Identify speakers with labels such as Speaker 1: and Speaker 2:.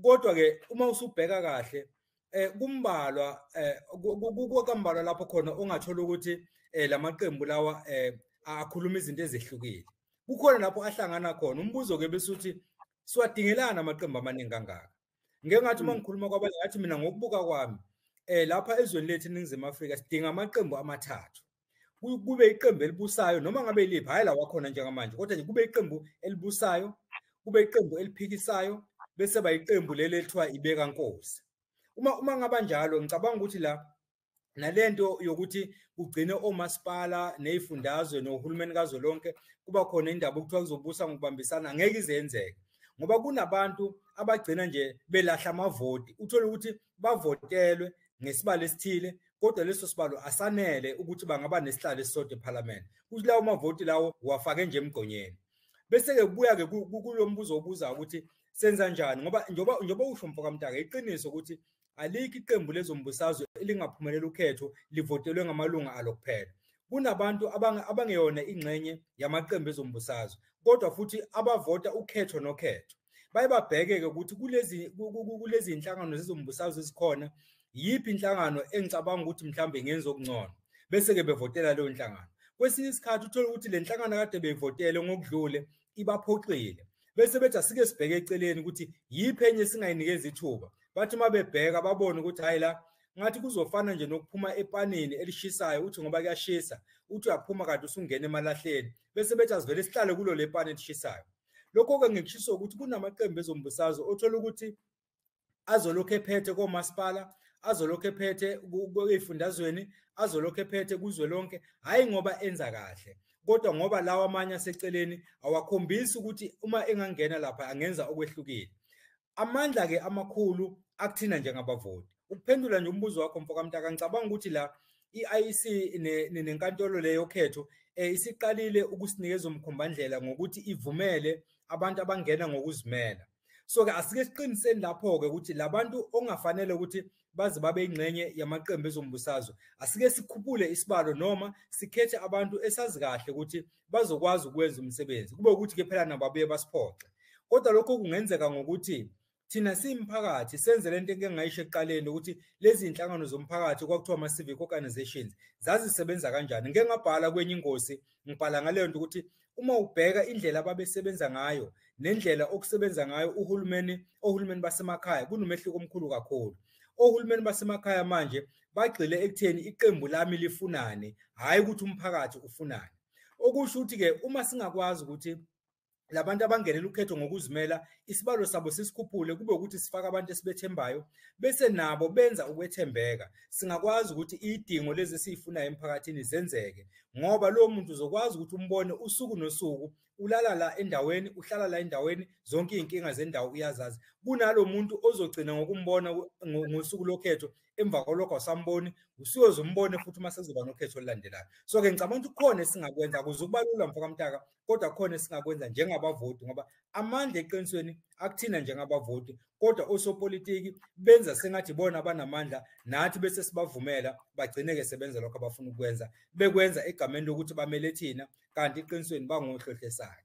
Speaker 1: kodwa ke uma usubheka kahle eh kumbalwa eh kukambalwa lapho khona ongathola ukuthi eh lamaqembu lawa eh akhuluma izinto ezehlukile kukhona lapho ahlangana khona umbuzo ke bese uthi siwadingelana amaqembu amaningi kangaka ngeke ngathi uma mm. ngikhuluma kwabanye ngathi mina ngokubuka kwami eh lapha ezweni lethu eningizimu Afrika sidinga amaqembu amathathu kube iqembu elibusayo noma ngabe iliphi hhayi la wakhona njengamanje kodwa nje kube iqembu elibusayo kube iqembu eliphikisayo bese bayiqembu leli elithiwa ibeka nkosi uma uma ngaba njalo ngicabanga ukuthi la nalento yokuthi kugcine omasipala nezifundazwe nohulumeni kazolonke kuba khona indaba okuthiwa kuzobusa ngokubambisana ngeke izenzeke ngoba kunabantu abagcina nje belahla amavoti uthole ukuthi bavotelwe ngesibalo esithile kodwa leso sibalo asanele ukuthi bangaba nesihlalo esisodwa eParliament kuthi lawo mavoti lawo wafake nje emgqonyeni bese ke kubuya ke kulo mbuzo obuza ukuthi senza njani ngoba njoba njoba usho mfoka mntaka iqiniso ukuthi alikho iqembu lezombusazwe elingaphumelela ukhetho livotelwe ngamalunga alo kuphela kunabantu abangeyona ingxenye yamaqembu ezombusazwe kodwa futhi abavota ukhetho nokhetho baye babheke-ke ukuthi kulezi kulezi nhlangano zezombusazwe ezikhona yiphi inhlangano engicabanga ukuthi mhlawumbe ngenza okungcono bese-ke bevotela leyo nhlangano kwesinye isikhathi uthole ukuthi le nhlangano kade beyivotele ngokudlule ibaphoxile bese bethi asike sibheke eceleni ukuthi yiphi enye singayinikeza ithuba bathi uma bebheka babone ukuthi hhayi la ngathi kuzofana nje nokuphuma epanini elishisayo uthi ngoba kuyashisa uthi uyaphuma kade usungena emalahleni bese bethi asivele sihlale kulo le pani elishisayo Lokho-ke ngikushiso ukuthi kunamaqembu ezombusazwe othola ukuthi azolokhu ephethe komasipala azolokhu ephethe ey'fundazweni azolokhu ephethe kuzwe lonke hhayi ngoba enza kahle kodwa ngoba lawa amanye aseceleni awakhombisi ukuthi uma engangena lapha angenza okwehlukile amandla-ke amakhulu akuthina njengabavoti ukuphendula nje umbuzo wakho mfo kamntaka ngicabanga ukuthi la i-IEC nenkantolo leyo khetho um eh, isiqalile ukusinikeza umkhombandlela ngokuthi ivumele abantu abangena ngokuzimela so-ke asike siqiniseni lapho-ke ukuthi labantu ongafanele ukuthi baze babe ingxenye yamaqembu ezombusazwe asike sikhuphule isibalo noma sikhethe abantu esazi kahle ukuthi bazokwazi ukwenza umsebenzi kube ukuthi ke phela nabo abuye basiphoxe kodwa lokho kungenzeka ngokuthi thina simphakathi senze lento eke ngayisho ekuqaleni ukuthi lezi inhlangano zomphakathi kwakuthiwa ama civic organizations zazisebenza kanjani ngeke ngabhala kwenye ingosi ngibhala ngaleyo nto ukuthi uma ubheka indlela ababesebenza ngayo nendlela okusebenza ngayo uhulumeni ohulumeni basemakhaya kunomehluko omkhulu kakhulu ohulumeni basemakhaya manje bagxile ekutheni iqembu lami lifunani hhayi ukuthi umphakathi ufunani okusho ukuthi-ke uma singakwazi ukuthi labantu abangenela ukhetho ngokuzimela isibalo sabo sisikhuphule kube ukuthi sifaka abantu esibethembayo bese nabo benza ukwethembeka singakwazi ukuthi idingo lezi esiyifunayo emphakathini zenzeke ngoba lowo muntu uzokwazi ukuthi umbone usuku nosuku ulala la endaweni uhlala la endaweni zonke izinkinga zendawo uyazazi kunalomuntu ozogcina ngokumbona ngosuku lokhetho emva kwalokho asamboni usiyozombone futhi uma sekuzoba nokhetho olulandelayo so ke ngicabanga ukuthi khona esingakwenza kuze ukubalula mfokamntaka kodwa khona esingakwenza njengabavoti ngoba amandla eqinisweni akuthina njengabavoti kodwa osopolitiki benza sengathi bona banamandla nathi bese sibavumela bagcine ke sebenza lokho abafuna ukwenza bekwenza egameni lokuthi bamele thina kanti iqinisweni bangohlohle sakhe